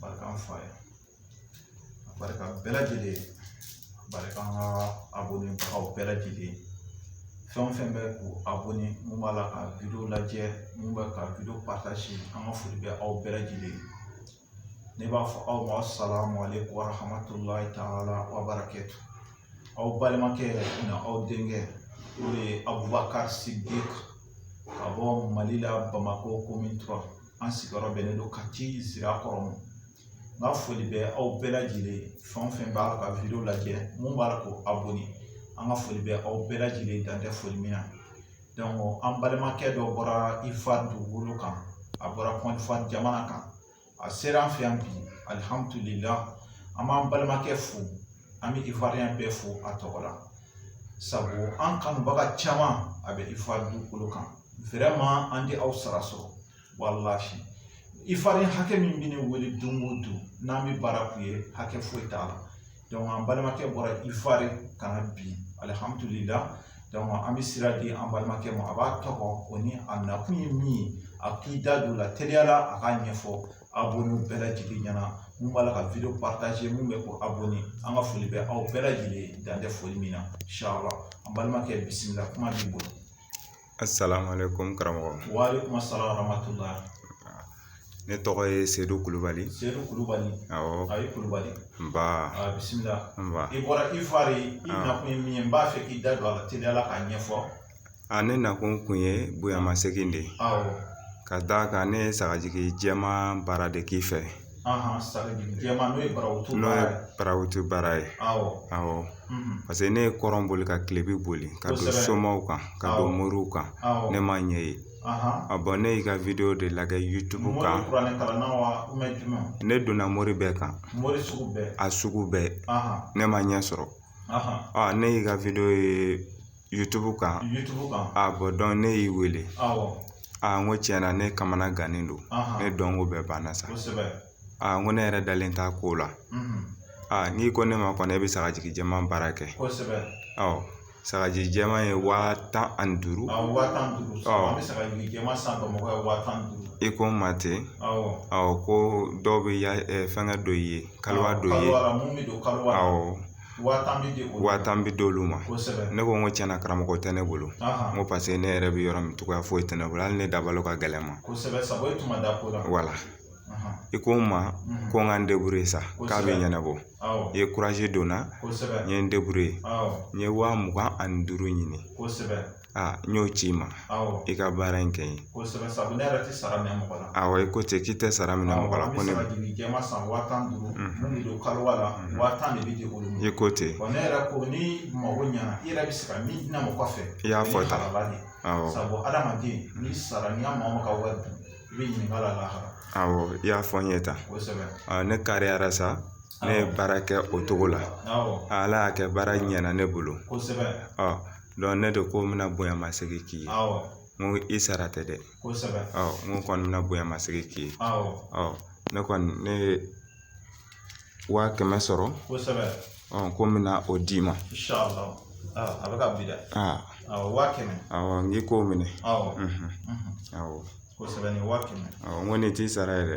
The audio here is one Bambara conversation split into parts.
barika an fa ye barika bɛɛ lajɛlen barika n ka abonné aw bɛɛ lajɛlen fɛn o fɛn bɛ k'u abonné mun b'a la ka video lajɛ mun bɛ ka video partager an ka foli bɛ aw bɛɛ lajɛlen ne b'a fɔ aw ma assalamu alaykum wa rahmatullahi taala wa barakatu aw balimakɛ na aw denkɛ o de ye Abubakari Sidiki ka bɔ Mali la Bamakɔ commune 3 an sigiyɔrɔ bɛnnen don Kati Sirakɔrɔ ma n ka foli bɛ aw bɛɛ lajɛlen fɛn o fɛn b'a la ka video lajɛ mun b'a la k'o abonné an ka foli bɛ aw bɛɛ lajɛlen dan tɛ foli min na donc an balimakɛ dɔ bɔra Ivoire dugukolo kan a bɔra Kɔdiwari jamana kan a sera an fɛ yan bi alihamudulila an b'an balimakɛ fo an bɛ Ivoirien bɛɛ fo a tɔgɔ la sabu an kanubaga caman a bɛ Ivoire dugukolo kan vraiment an tɛ aw sara sɔrɔ walahi Ivoirien hakɛ min bɛ ne wele don o don n'an bɛ baara k'u ye hakɛ foyi t'a la an balimakɛ bɔra Ivoire ka na bi alihamudulila donc an bɛ sira di an balimakɛ ma a b'a tɔgɔ o ni a nakun ye min ye a k'i da don a la teliyala a k'a ɲɛfɔ abɔnenw bɛɛ lajɛlen ɲɛna mun b'a la ka wideyo paritaze mun bɛ ko abɔne an ka foli bɛ aw bɛɛ lajɛlen dan tɛ foli min na inshallah an balimakɛ bisimila kuma b'i bolo A salamale ko n karamɔgɔ ne tɔgɔ ye sedu kulubali kulubali kulubali a ne na ko n kun ye bonyamasegin de ye ka d da kan ne ye sagajigi jɛma baara de k'i fɛ jɛman n'o ye barawuti baara ye n'o ye barawuti baara ye awɔ paseke ne ye kɔrɔn boli ka kilebin boli ka don somaw kan ka don moriw kan ne ma ɲɛ ye bon ne y'i ka wideyo de lajɛ YouTube kan ne donna mori bɛɛ kan a sugu bɛɛ ne ma ɲɛ sɔrɔ ne y'i ka wideyo ye YouTube kan YouTube kan a bon donc ne y'i wele awɔ aa n ko tiɲɛ na ne kamana gannen don ne dɔnko bɛɛ banna sa kosɛbɛ aa n ko ne yɛrɛ dalen t'a ko la aa n'i ko ne ma kɔni e bɛ sagajigi jɛman baara kɛ kosɛbɛ awɔ sagajigi jɛman ye waa tan ani duuru awɔ waa tan ni duuru awɔ an bɛ sagajigi jɛman san bamakɔ yan waa tan ni duuru i ko n ma ten awɔ awɔ ko dɔw bɛ fɛngɛ don i ye kaliwa don i ye kaliwa la mun bɛ don kaliwa la awɔ wa tan bɛ di olu ma wa tan bɛ di olu ma kosɛbɛ ne ko n ko tiɲɛna karamɔgɔ tɛ ne bolo n ko paseke ne yɛrɛ bɛ yɔrɔ min cogoya foyi tɛ ne bolo hali ne dabalo ka gɛlɛn n ma kosɛbɛ sabu e tun ma da ko la voilà i ko n ma ko n ka n débrouiller sa k'a bɛ ɲɛnabɔ i ye courage don n na kosɛbɛ n ye n débrouiller n ye wa mugan ani duuru ɲini kosɛbɛ Aa n y'o ci i ma i ka baara in kɛ n ye a ye ko cɛ k'i tɛ sara minɛ mɔgɔ la ko ne ye ko ten i y'a fɔ i y'a fɔ n ye tan ne kariyara sa ne ye baara kɛ o cogo la ala y'a kɛ baara ɲɛna ne bolo ne de ko n bɛna bonya masegin k'i ye n ko i sara tɛ dɛ n ko kɔni bɛna bonya masegin k'i ye ne kɔni ne ye waa kɛmɛ sɔrɔ ko n bɛna o d'i ma n k'i k'o minɛ n ko nin t'i sara ye dɛ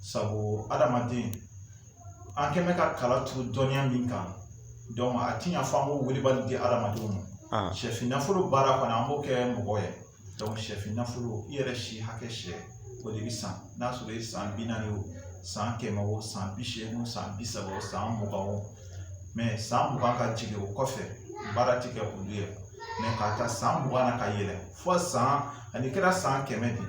sabu adamaden an kɛlen bɛ ka kala turu dɔnniya min kan donc a tɛ ɲɛ fo an k'o wilibali di adamadenw ma sɛfin nafolo baara kɔni an b'o kɛ mɔgɔ ye donc sɛfin nafolo i yɛrɛ si hakɛ sɛ o de bɛ san n'a sɔrɔ i san bi naani o san kɛmɛ o san bi seegin o san bi saba o san mugan o mais san mugan ka jigin o kɔfɛ baara tɛ kɛ olu ye mais k'a ta san mugan na ka yɛlɛn fo san ani kɛra san kɛmɛ de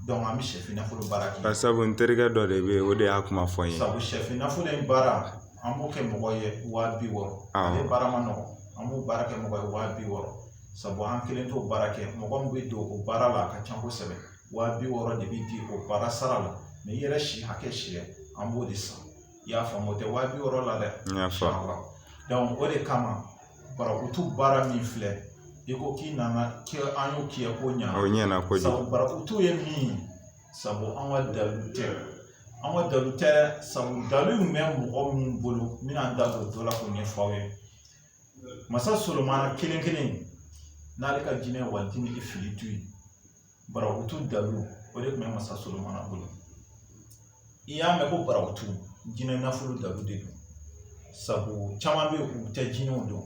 donc an bɛ sɛfin nafolo baara kɛ bari sabu n terikɛ dɔ de bɛ yen o de y'a kuma fɔ n ye sabu sɛfin nafolo in baara an b'o kɛ mɔgɔ ye waa bi wɔɔrɔ Awɔ. ale baara ma nɔgɔ an b'o baara kɛ mɔgɔ ye waa bi wɔɔrɔ sabu an kelen t'o baara kɛ mɔgɔ min bɛ don o baara la a ka ca kosɛbɛ waa bi wɔɔrɔ de bɛ di o baara sara la mais i yɛrɛ si hakɛ siyɛ an b'o de san i y'a faamu o tɛ waa bi wɔɔrɔ la dɛ n y'a faamu donc o de kama barakutu baara min filɛ i ko k'i nana kɛ an y'o k'i ye ko ɲana o ɲɛna kojugu sabu barakutu ye min ye sabu an ka dalu tɛ an ka dalu tɛ dɛ sabu dalu in bɛ mɔgɔ min bolo n bɛna n da don dɔ la k'o ɲɛfɔ aw ye masa solomana kelen kelen n'ale ka jinɛ wajini ifiritu ye barakutu dalu o de tun bɛ masa Solomana bolo i y'a mɛn ko barakutu jinɛ nafolo dalu de don sabu caman bɛ yen u tɛ jinɛw dɔn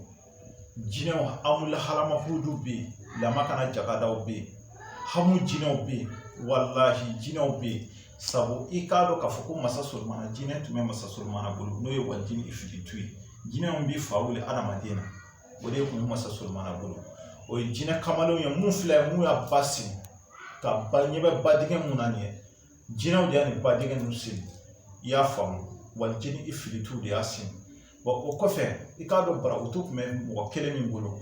jinɛw amula halamafurudu bɛ yen lama kana jagadaw bɛ yen hamu jinɛw bɛ yen walahi jinɛw bɛ yen sabu i k'a dɔn k'a fɔ ko masa Solomana jinɛ tun bɛ masa Solomana bolo n'o ye wajini ifiritu ye jinɛw bɛ fa wuli adamaden na o de kun bɛ masa solomana bolo o ye jinɛ kamalenw ye mun filɛ mun y'a ba sigi ka ba ɲɛ bɛ ba dingɛ mun na nin ye jinɛw de y'a nin ba dingɛ ninnu sigi i y'a faamu wajini ifiritu de y'a sigi wa o kɔfɛ i k'a dɔn barakutu tun bɛ mɔgɔ kelen min bolo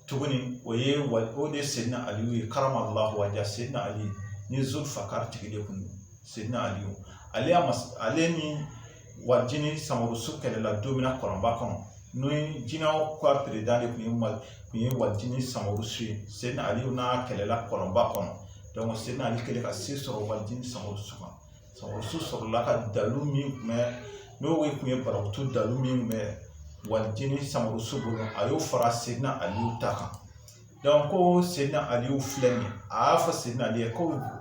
tuguni o ye wa o de ye sedina aliyu ye karamallahu wajha sedina aliyu ni zulfakar tigi de kun don sedina aliyu ale y'a mas ale ni waritini samarusu kɛlɛla don min na kɔlɔnba kɔnɔ n'o ye jinɛw ka peredan de tun ye mali tun ye waritini samarusu ye sedina ali n'a kɛlɛla kɔlɔnba kɔnɔ sedina ali kɛlen ka se sɔrɔ waritini samarusu kan samarusu sɔrɔla ka dalu min tun bɛ n'o ye tun ye barakutu dalu min tun bɛ waritini samarusu bolo a y'o fara sedina ali ta kan ko sedina ali filɛ nin ye a y'a fɔ sedina ali ye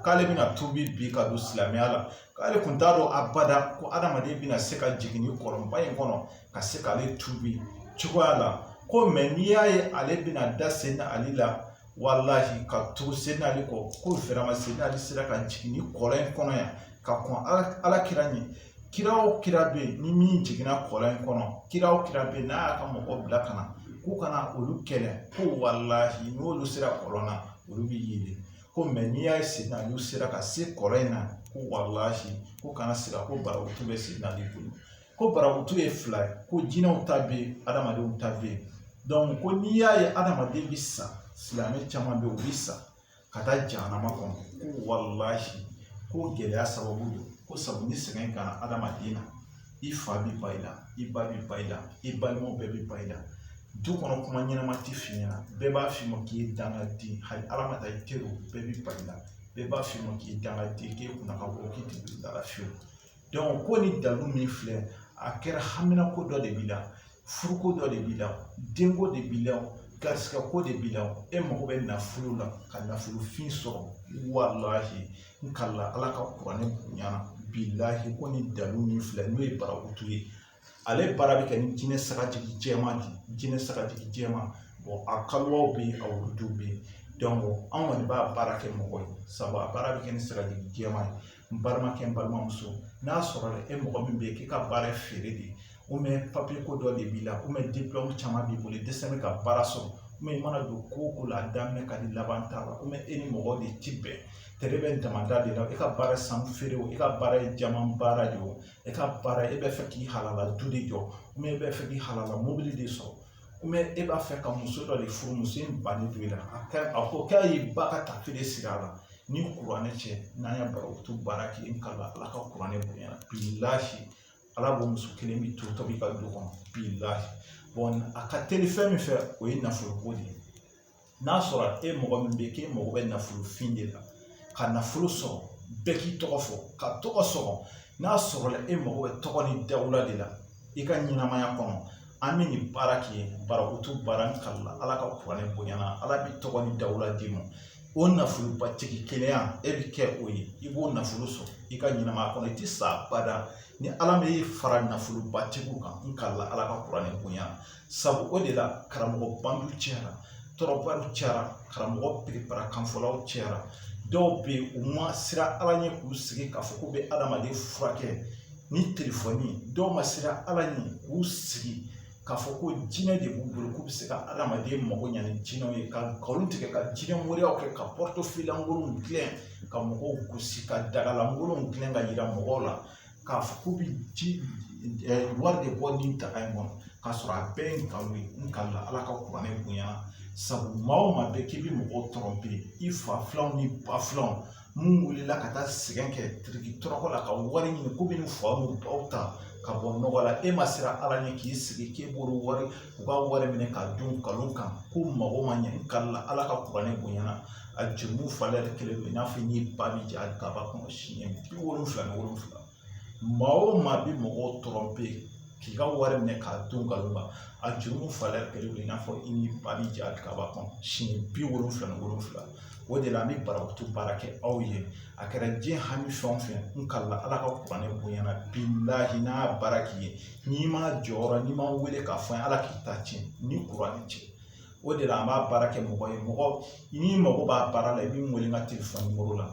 k'ale bɛna tuubi bi ka don silamɛya la k'ale tun t'a dɔn abada ko adamaden bɛna se ka jigin ni kɔlɔnba in kɔnɔ ka se k'ale tuubi cogoya la ko mɛ n'i y'a ye ale bɛna da sedina ali la walahi ka tugu sedina ali kɔ ko fɛrɛma sedina ali sera ka jigin ni kɔlɔn in kɔnɔ yan ka kɔn ala kira ɲɛ kira o kira bɛ yen ni min jiginna kɔlɔn in kɔnɔ kira o kira bɛ yen n'a y'a ka mɔgɔ bila ka na k'u kana olu kɛlɛ ko walahi n'olu sera kɔlɔn na olu bɛ yeelen ko mɛ n'i y'a ye sedina ali sera ka se kɔlɔn in na ko walahi ko kana siga ko barakutu bɛ sedina ali bolo ko barakutu ye fila ye ko jinɛw ta bɛ yen adamadenw ta bɛ yen ko n'i y'a ye adamaden bɛ sa silamɛ caman bɛ yen u bɛ sa ka taa jahanama kɔnɔ ko walahi k'o gɛlɛya sababu don ko sabu ni sɛgɛn ka na adamaden na i fa bi ban i la i ba bi ban i la i balimaw bɛɛ bi ban i la du kɔnɔ kuma ɲɛnama ti f'i ɲɛna bɛɛ b'a f'i ma k'i ye dangaden hali ala ma taa i teriw bɛɛ bi ban i la bɛɛ b'a f'i ma k'i ye dangaden k'e kunna ka go k'i ti dala fiyewu ko ni dalu min filɛ a kɛra haminako dɔ de b'i la furuko dɔ de b'i la denko de b'i la garisigɛko de b'i la e mago bɛ nafolo la ka nafolofin sɔrɔ walahi n kalila ala ka kuranɛ bonya na bilahi ko ni dalu min filɛ n'o ye barakutu ye ale baara bɛ kɛ ni jinɛ sagajigi jɛman de ye jinɛ sagajigi jɛman a kaluwaw bɛ yen a wurudiw bɛ yen an kɔni b'a baara kɛ mɔgɔ ye sabu a baara bɛ kɛ ni sagajigi jɛman ye n balimakɛ n balimamuso n'a sɔrɔla e mɔgɔ min bɛ yen k'i ka baara ye feere de ye papiye ko dɔ de b'i la dipulɔmu caman b'i bolo i dɛsɛ bɛ ka baara sɔrɔ i mana don ko o ko la a daminɛ ka di laban t'a la e ni mɔgɔ de ti bɛn tɛgɛ bɛ damanda de la e ka baara sanu feere o e ka baara ye jaman baara de ye o e ka baara e b'a fɛ k'i halala du de jɔ ou bien e b'a fɛ k'i halala mobili de sɔrɔ ou bien e b'a fɛ ka muso dɔ de furu muso in bannen don i la a ka a ko k'a ye ba ka taafe de siri a la ni kuranɛ cɛ n'an ye barakutu baara k'i ye n kalila ala ka kuranɛ bonya na bilahi ala b'o muso kelen bi to tobi i ka du kɔnɔ bilahi a ka teli fɛn min fɛ o ye nafolo ko de ye n'a sɔrɔ e mɔgɔ min bɛ k'e mago bɛ nafolofin de la ka nafolo sɔrɔ bɛɛ k'i tɔgɔ fɔ ka tɔgɔ sɔrɔ n'a sɔrɔla e mago bɛ tɔgɔ ni dawula de la i ka ɲɛnamaya kɔnɔ an bɛ nin baara kɛ barakutu baara n kalila ala ka kuranɛ bonya na ala bɛ tɔgɔ ni dawula d'i ma o nafolobatigi kelenya e bɛ kɛ o ye i b'o nafolo sɔrɔ i ka ɲɛnamaya kɔnɔ i tɛ sa abada ni ala m'e fara nafolobatigiw kan n kalila ala ka kuranɛ bonya sabu o de la karamɔgɔ bandiw cayara trompeur cayara karamɔgɔ perepara kanfɔlaw cayara dɔw bɛ yen u ma siran ala ɲɛ k'u sigi k'a fɔ k'u bɛ adamaden furakɛ ni telefɔni dɔw ma siran ala ɲɛ k'u sigi k'a fɔ ko jinɛ de b'u bolo k'u bɛ se ka adamaden mago ɲa ni jinɛw ye ka nkalon tigɛ ka jinɛ moriyaw kɛ ka portefeuille lankolonw dilan ka mɔgɔw gosi ka daga lankolonw dilan ka yira mɔgɔw la k'a fɔ k'u bɛ ji wari de bɔ nin daga in kɔnɔ k'a sɔrɔ a bɛɛ ye nkalon ye n kalila ala ka kuranɛ bonya na sabu maa o maa bɛ k'i bɛ mɔgɔw tɔrɔmpe i fa filanw n'i ba filanw mun wulila ka taa sɛgɛn kɛ tiriki tɔrɔkɔ la ka wari ɲini k'u bɛna u fa n'u baw ta ka bɔ nɔgɔ la e ma siran ala ɲɛ k'i sigi k'e b'olu wari u ka wari minɛ k'a dun nkalon kan k'u mago ma ɲɛ n kalila Ala ka kuranɛ bonya na a jurumu falen tɛ kelen ye i n'a fɔ i n'i ba bɛ jɛ hali kaaba kɔnɔ siɲɛ bi wolonwula ni wolonwula maa o maa bɛ mɔgɔw tɔrɔmpe k'u ka wari minɛ k'a dun nkalon kan a jurumu falen tɛ kelen ye i n'a fɔ i n'i ba bɛ jɛ hali kaaba kɔnɔ siɲɛ bi wolonwula ni wolonwula o de la an bɛ barakutu baara kɛ aw ye a kɛra diɲɛ hami fɛn o fɛn n kalila Ala ka kuranɛ bonya na bilahi n'an y'a baara k'i ye n'i ma jɔyɔrɔ n'i ma n wele k'a fɔ ala k'i ta tiɲɛ ni kuranɛ cɛ o de la an b'a baara kɛ mɔgɔ ye mɔgɔ n'i mago b'a baara la i bɛ n wele n ka telefɔni nimɔrɔ la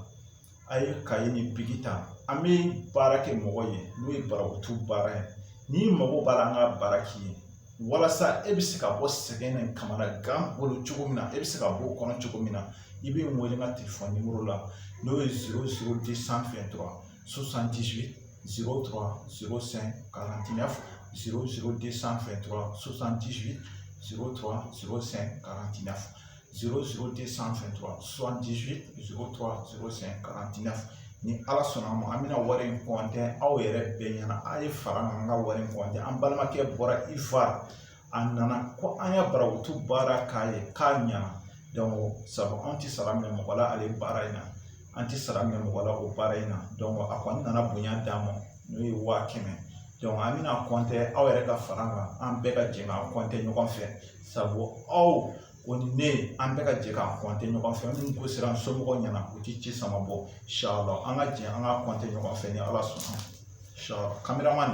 a ye kaye ni biki ta an bɛ baara kɛ mɔgɔ ye n'o ye barakutu baara ye n'i mago b'a la an k'a baara k'i ye walasa e bɛ se ka bɔ sɛgɛn ni kamanagan bolo cogo min na e bɛ se ka bɔ o kɔnɔ cogo min na i bɛ n wele n ka telefɔni nimɔrɔ la n'o ye zéro zéro deux cent vingt-trois ssantiurusantiurusanti sanfɛ susantisu ssantiina srourte sanfɛ ssantiurusanti ni ala sɔnna ma an bɛna wari in kɔntɛ aw yɛrɛ bɛn ɲɛna aw ye fara an ka wari in kɔntɛ an balimakɛ bɔra i fa a nana ko an ye barakutu baara k'a ye k'a ɲana donc sabu an tɛ sara minɛ mɔgɔ la ale baara in na an tɛ sara minɛ mɔgɔ la o baara in na donc a kɔni nana bonya d'an ma n'o ye waa kɛmɛ donc an bɛna a kɔntɛ aw yɛrɛ ka fara kan an bɛɛ ka jɛ k'a kɔntɛ ɲɔgɔn fɛ sabu aw aw ni ne an bɛɛ ka jɛ k'a kɔnte ɲɔgɔn fɛ minnu ko sera an somɔgɔw ɲɛna u tɛ ci sama bon inshallah an ka jɛ an k'a kɔnte ɲɔgɔn fɛ ni ala sɔnna inshallah kameraman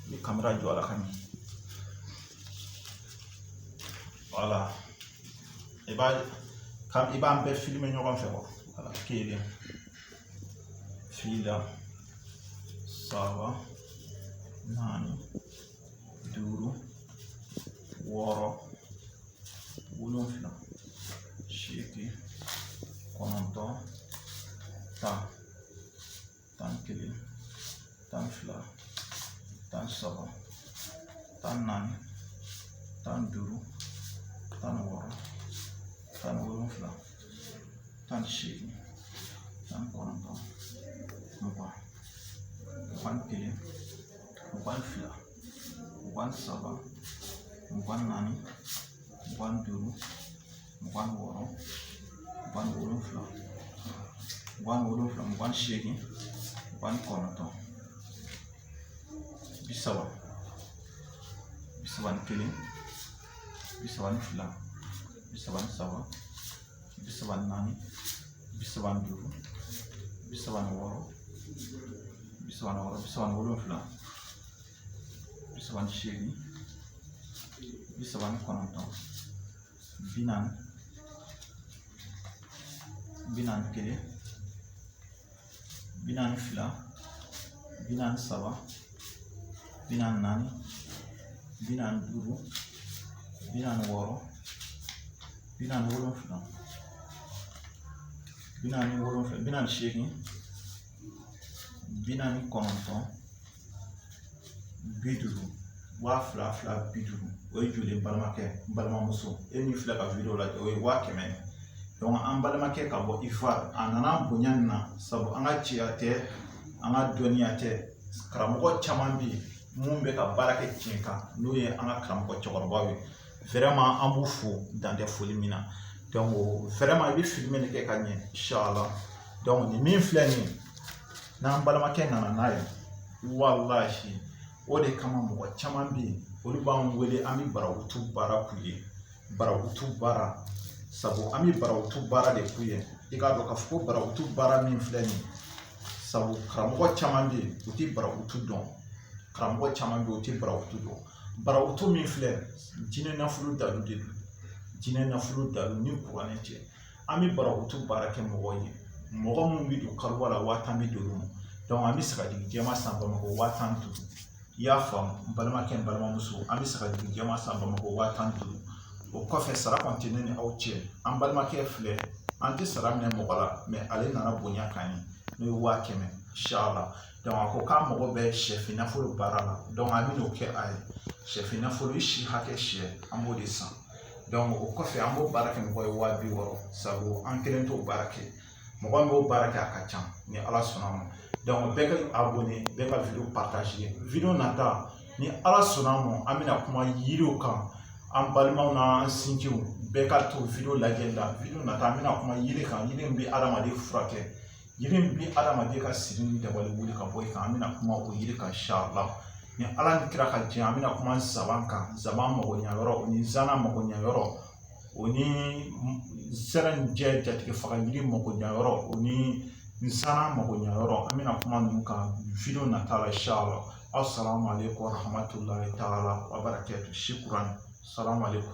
ni kamera jɔ la ka ɲɛ voilà i b'a ka i b'an bɛɛ filime ɲɔgɔn fɛ wa voilà kelen fila saba naani duuru wɔɔrɔ wolonfila seegin kɔnɔntɔn tan tan ni kelen tan ni fila tan ni saba tan ni naani tan ni duuru tan ni wɔɔrɔ tan ni wolonfila tan ni seegin tan ni kɔnɔntɔn mugan mugan ni kelen mugan fila mugan saba mugan naani mugan duuru mugan wɔɔrɔ mugan wolonfila mugan wolonfila mugan seegin mugan kɔnɔntɔn bi saba bi saba ni kelen bi saba ni fila bi saba ni saba bi saba ni naani bi saba ni duuru bi saba ni wɔɔrɔ bi saba ni wɔɔrɔ bi saba ni wolonfila bi saba ni seegin bi saba ni kɔnɔntɔn bi naani bi naani kelen bi naani fila bi naani saba bi naani naani bi naani duuru bi naani wɔɔrɔ bi naani wolonfila bi naani wolonfila bi naani seegin bi naani kɔnɔntɔn bi duuru waa fila fila bi duuru o ye joli balimakɛ n balimamuso e min filɛ ka wideyo lajɛ o ye waa kɛmɛ an balimakɛ ka bɔ ivoire a nana bonya nin na sabu an ka ciya tɛ an ka dɔnniya tɛ karamɔgɔ caman bɛ yen minnu bɛ ka baara kɛ tiɲɛ kan n'o ye an ka karamɔgɔ cɛkɔrɔbaw ye vraiment an b'u fo dan tɛ foli min na vraiment i bɛ filime kɛ ka ɲɛ inshallah nin min filɛ nin ye n'an balimakɛ nana n'a ye walahi o de kama mɔgɔ caman bɛ yen olu b'an wele an bɛ barakutu baara k'u ye barakutu baara sabu an bɛ barakutu baara de k'u ye i k'a dɔn k'a fɔ ko barakutu baara min filɛ nin ye sabu karamɔgɔ caman bɛ yen u tɛ barakutu dɔn karamɔgɔ caman bɛ yen u tɛ barakutu dɔn barakutu min filɛ jinɛ nafolo dalu de don jinɛ nafolo dalu ni kuranɛ cɛ an bɛ barakutu baara kɛ mɔgɔw ye mɔgɔ minnu bɛ don kaliwa la waa tan bɛ di olu ma an bɛ sagajigi jɛman san bamakɔ waa tan ni duuru i y'a faamu n balimakɛ n balimamuso an bɛ sagajigi jɛman san bamakɔ waa tan ni duuru o kɔfɛ sara kɔni tɛ ne ni aw cɛ an balimakɛ filɛ an tɛ sara minɛ mɔgɔ la mais ale nana bonya kan ye n'o ye waa kɛmɛ inshallah a ko k'a mago bɛ sɛfin nafolo baara la an bɛn'o kɛ a ye sɛfin nafolo si hakɛ siyɛ an b'o de san o kɔfɛ an b'o baara kɛ mɔgɔ ye waa bi wɔɔrɔ sabu an kelen t'o baara kɛ mɔgɔ min b'o baara kɛ a ka ca ni ala sɔnna ma donc bɛɛ ka abonné bɛɛ ka video partager video nata ni ala sɔnna ma an bɛna kuma yiriw kan an balimaw n'an sinjiw bɛɛ ka to video lajɛli la video nata an bɛna kuma yiri kan yiri min bɛ adamaden furakɛ yiri min bɛ adamaden ka siri ni dabali wuli ka bɔ i kan an bɛna kuma o yiri kan inshallah ni ala ni kira ka jɛn an bɛna kuma nsaban kan nsaban mago ɲa yɔrɔ o ni zana mago ɲa yɔrɔ o ni zɛrɛnjɛ jatigifaga yiri mago ɲa yɔrɔ o ni nsana mago ɲa yɔrɔ an bɛna kuma ninnu kan video nata la inshallah assalamu alaikum warahmatullahi taala wabarakatuh shukran assalamu alaikum